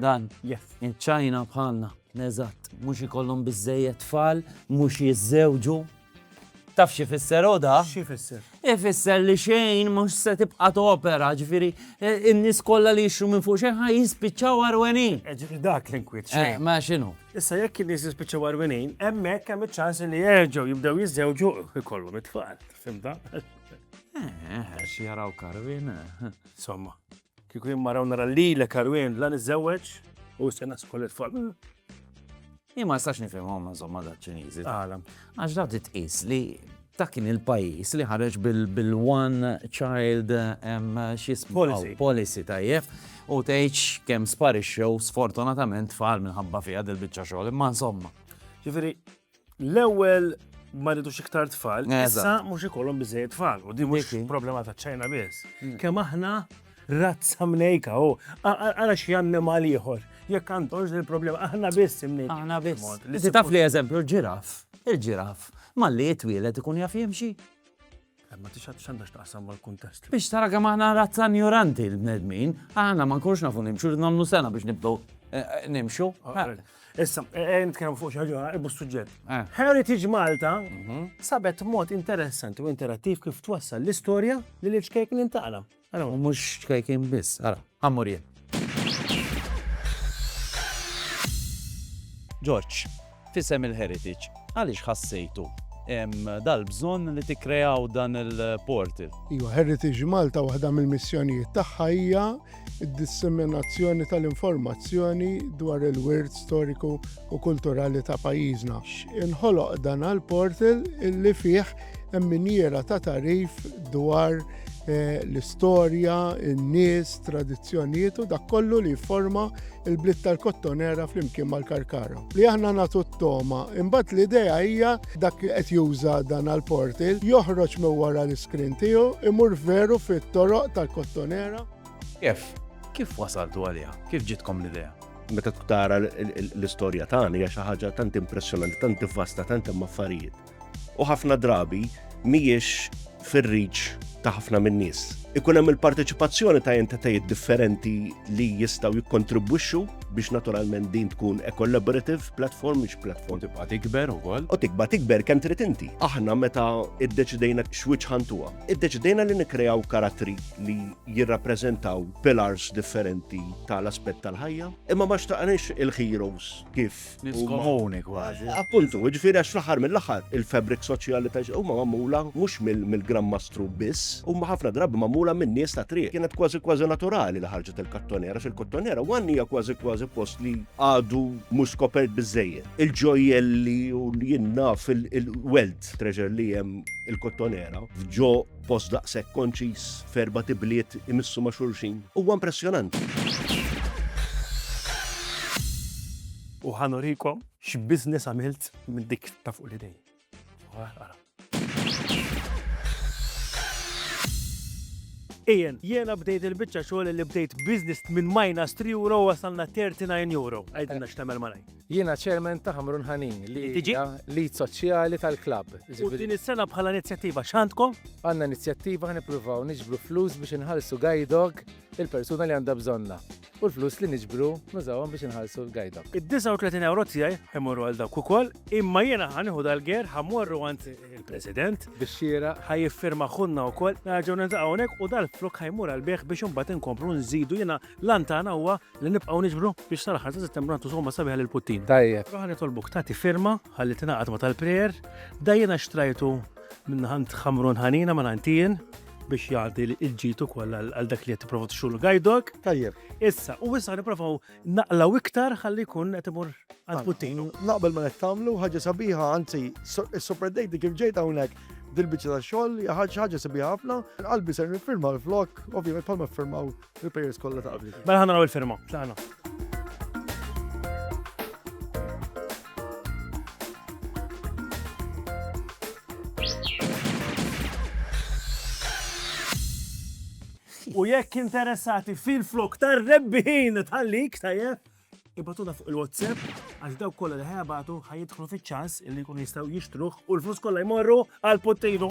Dan. Yes. Iċ-Ċina bħalna. Eżatt. Mhux ikollhom biżżejjed tfal, mhux jiżżewġu. Taf xi fisser oda? Xi fisser? Ifisser li xejn mhux se tibqa' topera, ġifieri e, in-nies kollha li jixru minn fuq xejn ħa jispiċċaw arwenin. E, ġifieri dak l-inkwiet e, xejn. Ma x'inhu? Issa jekk in-nies jispiċċaw arwenin, hemmhekk hemm iċ-ċans li jerġgħu jibdew jiżżewġu ikollhom it-tfal. Fimta? Eh, xi jaraw karvin. Somma. Kieku jien mara u nara lilek Arwien la niżżewweġ u se nasku lil tfal. Jien ma nistax nifhimhom insomma da Ċiniżi. Għala? Għax da titqis li dak kien il-pajjiż li ħareġ bil-one child policy. policy tajjeb u tgħidx kemm sparixxew sfortunatament tfal minħabba fiha dil-biċċa xogħol imma insomma. Ġifieri L-ewwel ma rridux iktar tfal, issa mhux ikollhom biżejjed tfal u din mhux problema ta' ċajna biss. Mm. Kemm aħna razza mnejka u għala xi annimal ieħor. Jekk għandhomx il-problema aħna biss imnejka. Aħna biss. Taf li eżempju l-ġiraf, il-ġiraf malli jitwielet ikun jaf jimxi. Ma tixħat xanda xtaqsam mal-kuntest. Biex tara kemm aħna razza ignoranti l-bnedmin, aħna ma nkunx nafu nimxu nagħmlu sena biex nibdew eh, eh, nimxu. Ah, Issa, eh, nitkellmu fuq xi ħaġa ibu suġġett. Heritage Malta mhm. sabet mod interessanti u interattiv kif twassal l-istorja li l-iċkejk nintaqna. Ara, u mhux ċkejkin biss, ara, għammur jien. Ġorġ, fisem il-Heritage, għaliex ħassejtu dal-bżonn li tikkrejaw dan il-portal. Iwa, Heritage Malta waħda mill-missjonijiet tagħha hija d-disseminazzjoni tal-informazzjoni dwar il-wirt storiku u kulturali ta' pajjiżna. Inħoloq dan għal portal illi fih hemm miniera ta' tarif dwar eh, l-istorja, in-nies, tradizzjonijiet u dak kollu li jifforma il-bliet tal-kottonera flimkien mal-karkara. Li aħna nagħtu t-toma, imbagħad l-idea hija dak li qed juża dan għall-portil joħroġ minn wara l-iskrin tiegħu imur veru fit-toroq tal-kottonera. Kif? Kif wasaltu għaliha? Kif ġitkom l-idea? meta tara l-istorja tagħna hija xi ħaġa tant impressjonanti, tant vasta, tant hemm affarijiet. u ħafna drabi mhijiex fir-reach ta' ħafna min-nies. Ikun hemm il-parteċipazzjoni ta' entitajiet differenti li jistgħu jikkontribwixxu biex naturalment din tkun a collaborative platform mhix platform. U tibqa' tikber ukoll. U tikba' tikber kemm trid inti. Aħna meta iddeċidejna x'wiċċ ħantuha. Iddeċidejna li nikkreaw karattri li jirrappreżentaw pillars differenti tal-aspett tal-ħajja, imma ma xtaqniex il-heroes kif Nifs komuni kważi. Appuntu, ġifiri għax fl-aħħar mill-aħħar il-fabric soċjali ta' huma magħmula mhux mill-Gran Mastru biss, huma ħafna drabi magħmula minn nies ta' triq. Kienet kważi kważi naturali li ħarġet il-kattonera, għax il-kattonera wan hija kważi kważi post li għadu mhux skopert biżejjed. Il-ġojjelli u li jinnaf il-weld treasure li hemm il-kottonera ġo Post daqshekk konċiż, f'erbat ibliet imissu ma' xulxin, huwa impressjonanti. U ħa nurikom x'business għamilt minn dik ta' fuq l-idej. Ian, jiena bdejt il-biċċa xogħol li bdejt business minn minus 3 euro wasalna 39 euro. Għidilna x'tagħmel malaj. Jiena Chairman ta' Ħamrun Ħanin li hija l-id soċjali tal-klabb. U din is-sena bħala inizjattiva x'għandkom? Għandna inizjattiva ħa nippruvaw niġbru flus biex inħallsu guide dog il-persuna li għandha bżonna. U l-flus li niġbru nużawhom biex inħallsu l-guide dog. Id-39 ewro tiegħi ħajmorru għal dawk ukoll, imma jiena ħa nieħu dal-ger ħamorru għand il-President biex xiera ħa jiffirma ħunna wkoll nerġgħu niltaqgħu hawnhekk u dal-flok ħajmur għal bih biex imbagħad inkomplu nżidu jiena L-għan tagħna huwa li nibqgħu niġbru biex sal-aħħar ta' Settembru nagħtu somma sabiħa lil Puttin. Tajjeb. Aħna nitolbuk tagħti firma ħalli tingħaqad ma' tal-prayer, da jiena xtrajtu minn ħand Ħamrun Ħanina ma' ħantijin biex jgħaddi l-ġitu koll għal dak li jattiprofa t-xul gajdok. Tajjeb. Issa, u issa niprofaw naqlaw iktar ħalli kun għetimur għad puttinu. Naqbel ma nettamlu, ħagġa sabiħa, għanzi, super dejti kif ġejta unek dil-bicċa ta' xol, ħagġa sabiħa ħafna, għalbi ser nifirma l-flok, ovvijament palma firmaw Il-players kollha ta' qabli. Mela ħanna il-firma, x'aħna. U jekk interessati fil-flok tar rebbin tal-lik tajjeb, ibatuna fuq il-WhatsApp għax daw kollha li ħajabatu ħajidħlu fiċ-ċans li jkunu jistgħu jixtruh u l-flus kollha jmorru għal pottejnu.